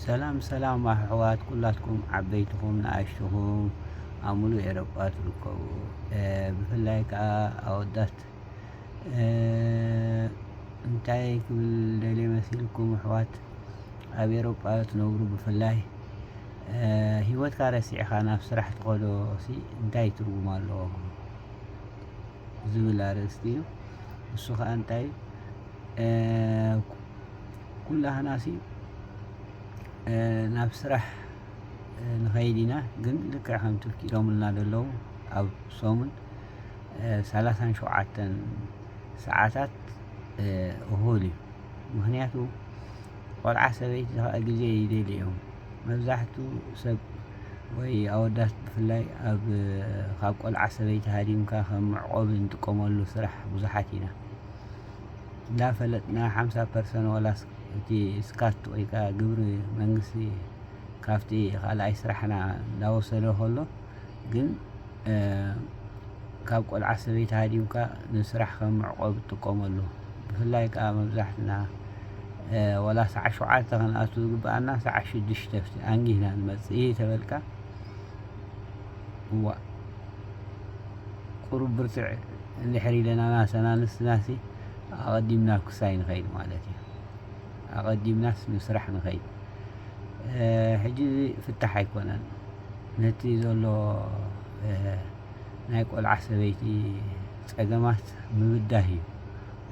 ሰላም ሰላም ኣሕዋት ኩላትኩም ዓበይትኹም ንኣሽቱኹም ኣብ ሙሉእ ኤሮጳ ትርከቡ ብፍላይ ከኣ ኣወዳት እንታይ ክብል ደልየ መሲልኩም ኣሕዋት ኣብ ኤሮጳ ትነብሩ ብፍላይ ሂወትካ ረሲዕኻ ናብ ስራሕ ትኸዶ ሲ እንታይ ትርጉም ኣለዎ ዝብል ኣርእስቲ እዩ እሱ ከኣ እንታይ ኩላህናሲ ናብ ስራሕ ንኸይድ ኢና ግን ልክዕ ከም ቱርኪ ኢሎምልና ዘለዉ ኣብ ሰሙን ሰላሳን ሸውዓተን ሰዓታት እኹል እዩ ምክንያቱ ቆልዓ ሰበይቲ ከዓ ግዜ ይደልዩ እዮም መብዛሕቱ ሰብ ወይ ኣወዳት ብፍላይ ኣብ ካብ ቆልዓ ሰበይቲ ሃዲምካ ከም መዕቆቢ እንጥቀመሉ ስራሕ ብዙሓት ኢና እንዳፈለጥና ሓምሳ ፐርሰን ዋላስ እቲ ስካት ወይ ከኣ ግብሪ መንግስቲ ካብቲ ካልኣይ ስራሕና እንዳወሰዶ ከሎ ግን ካብ ቆልዓ ሰበይቲ ሃዲምካ ንስራሕ ከም መዕቆቢ ትጥቀመሉ ብፍላይ ከኣ መብዛሕትና ወላ ሰዓት ሸውዓተ ክንኣቱ ዝግብኣና ሰዓት ሽዱሽተ ኣንጊህና ንመጽእ ተበልካ እዋእ ቁሩብ ብርትዕ እንድሕር ኢለና ናሰና ንስናሲ ኣቐዲምና ኩሳይ ንኸይድ ማለት እዩ ኣቐዲምናስ ንስራሕ ንኸይድ ሕጂ እዚ ፍታሕ ኣይኮነን ነቲ ዘሎ ናይ ቆልዓ ሰበይቲ ጸገማት ምብዳህ እዩ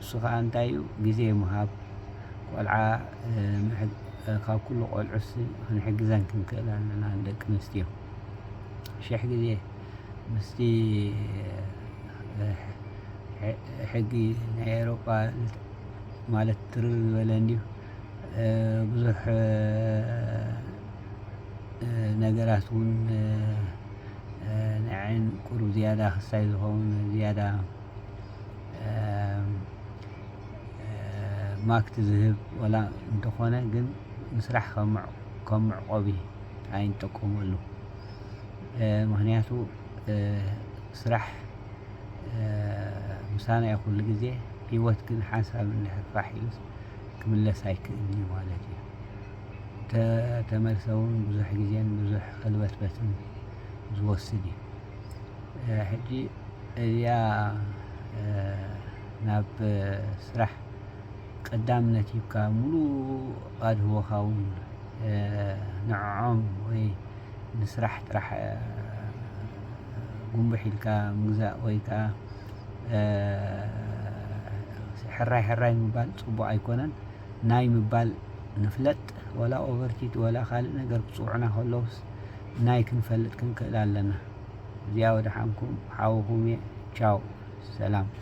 እሱ ከዓ እንታይ እዩ ግዜ ምሃብ ቆልዓ ካብ ኩሉ ቆልዑስ ክንሕግዘን ክንክእል ኣለና ንደቂ ኣንስትዮ ሽሕ ግዜ ምስቲ ሕጊ ናይ ኤሮጳ ማለት ትርር ዝበለ እንዲዩ ብዙሕ ነገራት እውን ናይ ዓይን ቁሩብ ዝያዳ ክሳይ ዝኸውን ዝያዳ ማክት ዝህብ ወላ እንተኾነ ግን ምስራሕ ከም መዕቆቢ ኣይንጠቀመሉ ምክንያቱ ስራሕ ምሳና ዩ ኩሉ ግዜ ሂወት ግን ሓንሳብ እንድሕር ፋሕ ኢሉስ ክምለስ ኣይክእልን ዩ ማለት ዩ እንተተመልሰ ውን ብዙሕ ግዜን ብዙሕ ኸልበትበትን ዝወስድ ዩ ሕጂ እዚኣ ናብ ስራሕ ቀዳምነት ሂብካ ሙሉእ ኣድህቦኻ ውን ንዖዖም ወይ ንስራሕ ጥራሕ ጉምብሕ ኢልካ ምግዛእ ወይ ከዓ ሕራይ ሕራይ ምባል ፅቡቅ ኣይኮነን ናይ ምባል ንፍለጥ ወላ ኦቨርቲት ወላ ካልእ ነገር ክፅውዑና ከለውስ ናይ ክንፈልጥ ክንክእል ኣለና እዚኣ ወደሓንኩም ሓውኹም እየ ቻው ሰላም